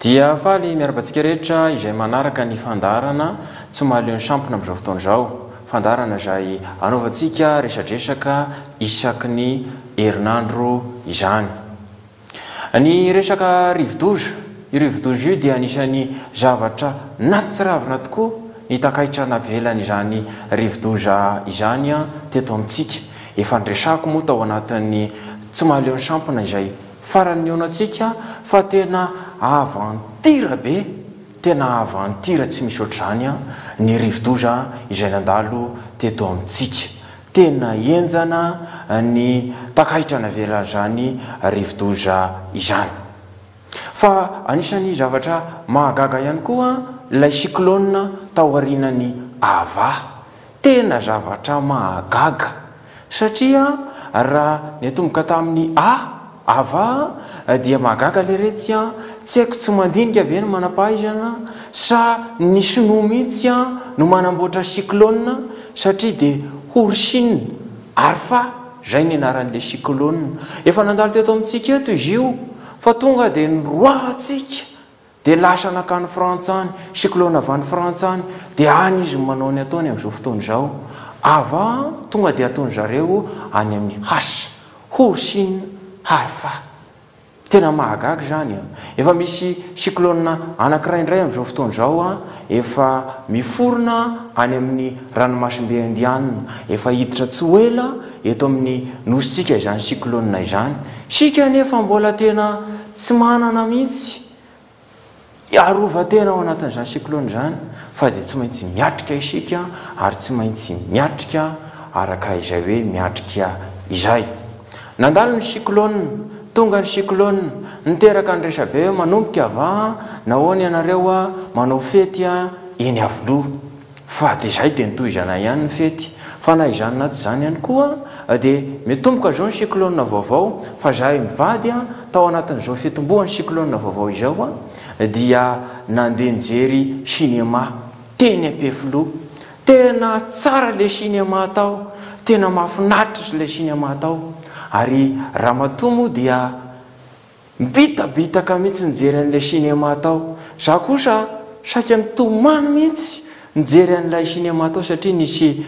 Dia faly miarabantsika rehetra izay manaraka ny fandarana tsy mahaleo ny sampona amin'izao fotoana izao. Fandarana izay anaovantsika resadresaka isaky ny herinandro izany. Ny resaka rivodoza, io rivodoza io dia anisan'ny zavatra natsiravina tokoa ny takaitra navelan'izany rivodoza izany teto amintsika. Efa niresahako moa tao anatin'ny tsy mahaleo ny sampona izay farany nihaona antsika fa tena aventure be, tena aventure tsy misy ohatr'izany ny rivodoza izay nandalo teto amintsika. Tena henjana ny takaitra navelan'izany rivodoza izany. Fa anisan'ny zavatra mahagaga ihany koa ilay cyclone taorianan'i Ava. Tena zavatra mahagaga satria raha niatomboka tamin'ny A, Ava dia mahagaga leretsy an! Tsy haiko tsy mandinika ve ny manampahaizana sa ny sinoa mihitsy an no manamboatra cyclone satria dia horsine arfa zay ny anaran'ilay cyclone efa nandalo teto amintsika eto izy io fa tonga dia niroahantsika Dia lasa nankany Frantsa any, cyclone avy any Frantsa any, dia any izy no manao ny ataony amin'izao fotoana izao. Ava, tonga dia ataony zareo any amin'ny has, Horsin Harfa. Tena mahagaga izany an! Efa misy cyclone anankiray indray amin'izao fotoana izao an, efa miforona any amin'ny ranomasimbe Indianina, efa hiditra tsy ho ela eto amin'ny nosintsika izany cyclone izany. Isika anefa mbola tena Tsy manana mihitsy hiarovan-tena ao anatin'izany cyclone izany fa dia tsy maintsy miatrika isika ary tsy maintsy miatrika araka izay hoe miatrika izay. Nandalo ny cyclone, tonga ny cyclone, niteraka ny resabe hoe manomboka va? Nahoana ianareo manao fety eny Iavoloha? Fa dia izay dia ny tohizana ihany ny fety. Fa na izany na tsy izany ihany koa dia miatomboka izao ny cyclone vaovao fa izahay mivady tao anatin'izao fiatombohan'ny cyclone vaovao izao dia nandeha nijery cinéma teny Ampefiloha. Tena tsara ilay cinéma tao, tena mahafinaritra ilay cinéma tao ary ramatoa moa dia. Mibitabitaka mihitsy nijery an'ilay cinéma tao za kosa saika nitomany mihitsy nijery an'ilay cinéma tao satria nisy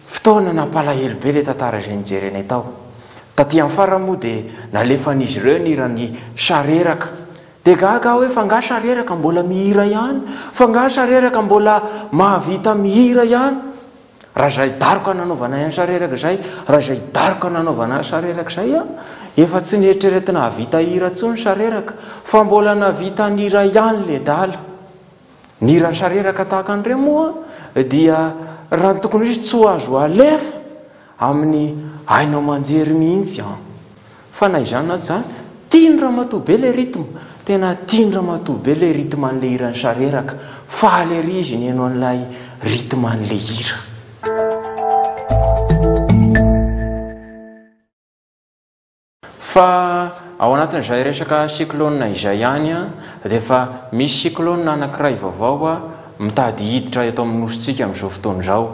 fotoana nampalahelo be ilay tantara izay nijerenay tao. Taty amin'ny farany moa dia nalefan'izy ireo ny hiran'i Sareraka. Dia gaga aho hoe f'angaha Sareraka mbola mihira ihany? F'angaha Sareraka mbola mahavita mihira ihany? Raha izay daroka nanaovanay an'i Sareraka izay, raha izay daroka nanaovana an'i Sareraka izay an, efa tsy nieritreretina hahavita hira intsony Sareraka, fa mbola nahavita ny iray ihany ledala. Ny hiran'i Sareraka tahaka an'ireo moa dia raha ny tokony ho izy tsy ho azo alefa amin'ny haino aman-jery mihitsy an. Fa na izany na tsy izany, tian'i ramatoa be ilay rythme. Tena tian'i ramatoa be ilay rythme an'ilay hiran'i Sareraka. Faly ery izy nihaino an'ilay rythme an'ilay hira. Fa ao anatin'izay resaka cyclone izay ihany dia efa misy cyclone anankiray vaovao mitady hiditra eto amin'ny Nosintsika amin'izao fotoana izao.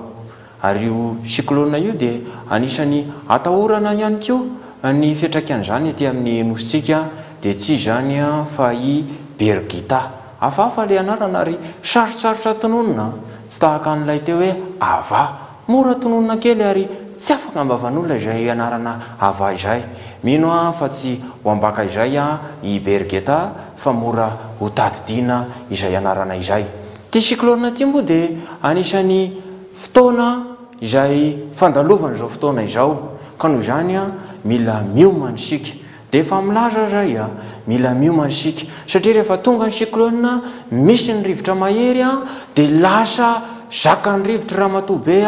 Ary io cyclone io dia anisany atahorana ihany koa ny fiantraikan'izany ety amin'ny nosintsika dia tsy izany fa i Birgitta. Hafahafa ilay anarana ary sarotsarotra tononina, tsy tahaka an'ilay teo hoe Ava. Mora tononina kely ary tsy afaka am-bavan'olona izay anarana Ava izay. Mino aho fa tsy ho ambaka izay i Birgitta fa mora hotadidiana izay anarana izay. Ity cyclone ity moa dia anisan'ny fotoana izay fandalovana izao fotoana izao ka noho izany mila miomana isika. Dia efa milaza aza ahy mila miomana isika satria rehefa tonga ny cyclone misy ny rivotra mahery dia lasa zakan'ny rivotra ramatoa be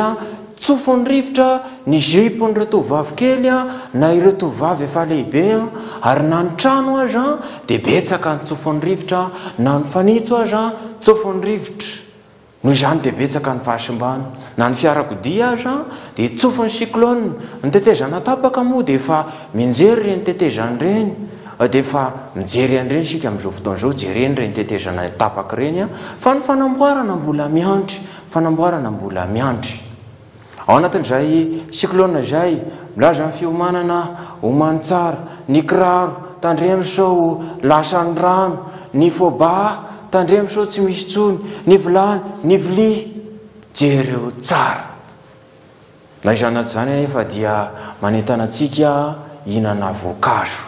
Tsofin'ny rivotra ny jupe-n'ireo tovovavy kely na ireo tovovavy efa lehibe, ary na ny trano aza dia betsaka ny tsofin'ny rivotra, na ny fanitso aza tsofin'ny rivotra. Noho izany dia betsaka ny fahasimbana. Na ny fiarakodia aza dia tsofin'ny cyclone. Ny tetezana tapaka moa dia efa mianjery ireny tetezana ireny, dia efa mijery an'ireny isika amin'izao fotoana izao, jereny ireny tetezana tapaka ireny fa ny fanamboarana mbola miandry. Fanamboarana mbola miandry. Ao anatin'izay cyclone izay, milaza ny fiomanana omany tsara, ny kiraro, tandremo sao lasan'ny rano, ny fôbà, tandremo sao tsy misy intsony, ny vilany, ny vilia, jereo tsara. Ilay zanatry izany anefa dia manentana antsika hihinana voankazo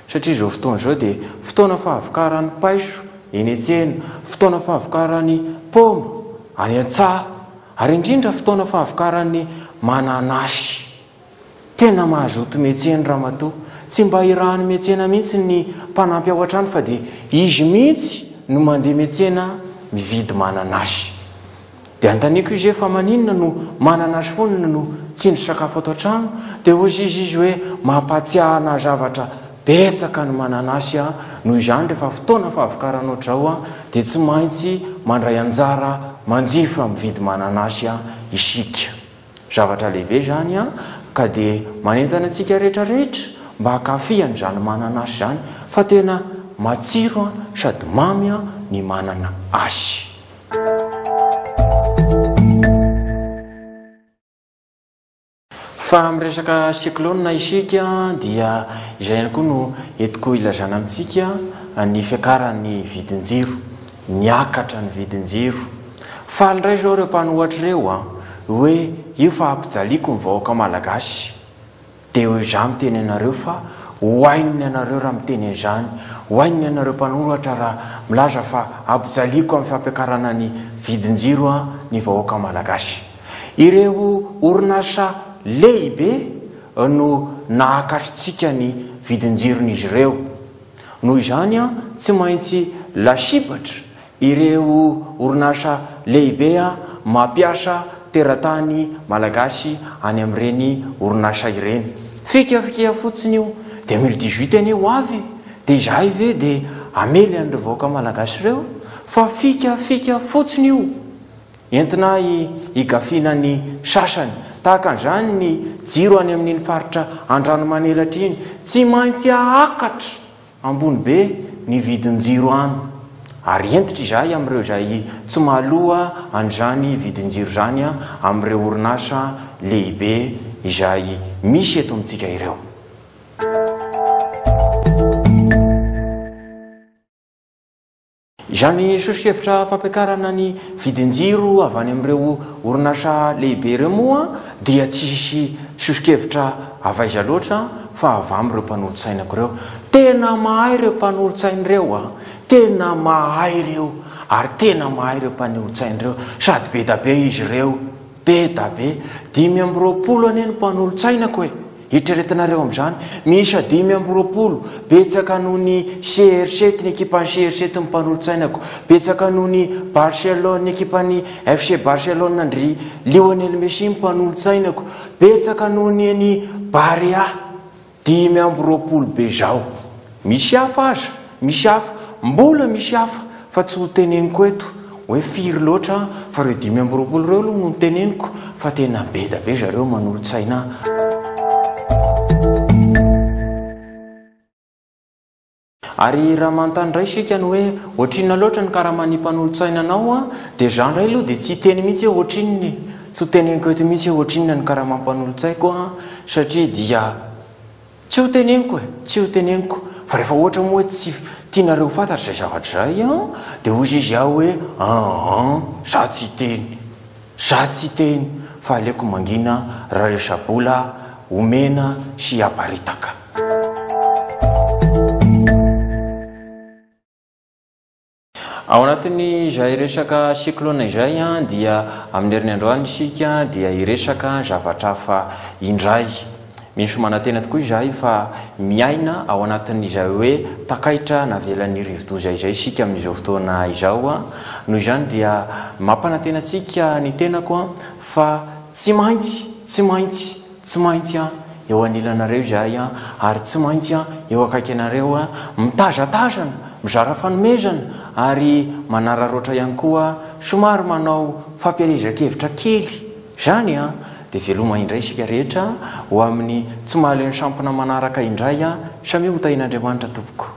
satria izao fotoana izao dia fotoana fahavokaran'ny paiso eny an-tsena, fotoana fahavokaran'ny paoma any an-tsaha ary indrindra fotoana fahavokaran'ny mananasy. Tena mazoto miantsena ramatoa, tsy mba hirahan'ny miantsena mihitsy ny mpanampy ao an-trano fa dia izy mihitsy no mandeha miantsena mividy mananasy. Dia antaniko izy hoe fa maninona no manana azy foana no tsindry sakafo ato an-trano dia hozy izy izy hoe mampahatsiahy anah zavatra betsaka ny mananasy an, noho izany rehefa fotoana fahavokarana ohatr'izao an dia tsy maintsy mandray anjara manjifa mividy mananasy an isika. Zavatra lehibe izany an, ka dia manentana antsika rehetra rehetra mba hankafy an'izany mananasy izany fa tena matsiro an sady mamy an ny manana asy. Fa miresaka cyclone isika dia izay ihany koa no entiko ilazana amintsika ny fiakaran'ny vidin-jiro. Niakatra ny vidin-jiro. Faly indray izao ireo mpanohatra ireo hoe io fahampijaliako ny vahoaka malagasy. Dia ho izaho miteny anareo fa ho ain'ny anareo raha miteny an'izany, ho ain'ny anareo mpanoratra raha milaza fa ampijaliako amin'ny fampiakarana ny vidin-jiro an ny vahoaka malagasy. Ireo orinasa lehibe no nahakatritsika ny vidin-jiron'izy ireo. Noho izany an tsy maintsy lasibatra Ireo orinasa lehibe mampiasa teratany malagasy any amin'ireny orinasa ireny. Fikafika fotsiny io. Dia mille dix huit anie ho avy e! Dia izahay ve dia hamely an'ireo vahoaka malagasy ireo? Fa fikafika fotsiny io. Entina higafiana ny sasany. Tahaka an'izany ny jiro any amin'iny faritra Andranomanelatra iny. Tsy maintsy ahakatra! Ambony be ny vidin-jiro any, ary hentitra izahay amin'ireo izay tsy mahaloa an'izany vidin-jiro izany amin'ireo orinasa lehibe izay misy eto amintsika ireo. Izany soso-kevitra fampiakarana ny vidin-jiro avy any amin'ireo orinasa lehibe ireo moa dia tsy hisy soso-kevitra avy aiza loatra fa avy amin'ireo mpanolotsainako ireo. Tena mahay ireo mpanolotsaina ireo a! Tena mahay ireo ary tena mahay ireo mpanolotsaina ireo sady be da be izy ireo. Be da be! Dimy amby roapolo anie ny mpanolotsainako e! Eritreretinareo amin'izany, miisa dimy amby roapolo, betsaka noho ny CRC tny ekipan'ny CRC tny mpanolotsainako, betsaka noho ny Barcelone ny ekipan'ny FC Barcelone an-dry Lionel Messi ny mpanolotsainako, betsaka noho ny an'i Barea. Dimy amby roapolo be zao. Misy hafa aza, misy hafa, mbola misy hafa fa tsy ho teneniko eto hoe firy loatra fa reo dimy amby roapolo reo aloha no teneniko fa tena beda be zareo manolotsaina ahy. Ary raha manontany indray isika ny hoe ohatrinona loatra ny karaman'ny mpanolotsaina anao an, dia izaho indray aloha dia tsy hiteny mihitsy hoe ohatrinona e! Tsy ho teneniko eto mihitsy hoe ohatrinona ny karaman'ny mpanolotsaiko an, satria dia tsy ho teneniko e! Tsy ho teneniko. Fa rehefa ohatra moa hoe tsy tianareo ho fantatra izay zavatra izay an, dia hoy izy aho hoe an an, izaho tsy hiteny. Za tsy hiteny fa aleoko mangina raha resa-bola omena sy aparitaka. Ao anatin'izay resaka cyclone izay dia amin'ny herin'ny androany isika dia hiresaka zavatra hafa indray. Misy manantena tokoa izahay fa miaina ao anatin'izay hoe takaitra navelan'ny rivodoza izay isika amin'izao fotoana izao. Noho izany dia mampanantena antsika ny tenako fa tsy maintsy, tsy maintsy, tsy maintsy eo anilanareo izahay ary tsy maintsy eo akaiky anareo, mitazatazana, mizara fanomezana ary manararaotra ihany koa, somary manao fampielezan-kevitra kely. Izany an, dia veloma indray isika rehetra ho amin'ny tsy mahaleo ny sampona manaraka indray an, samia ho tahian'Andriamanitra tompoko.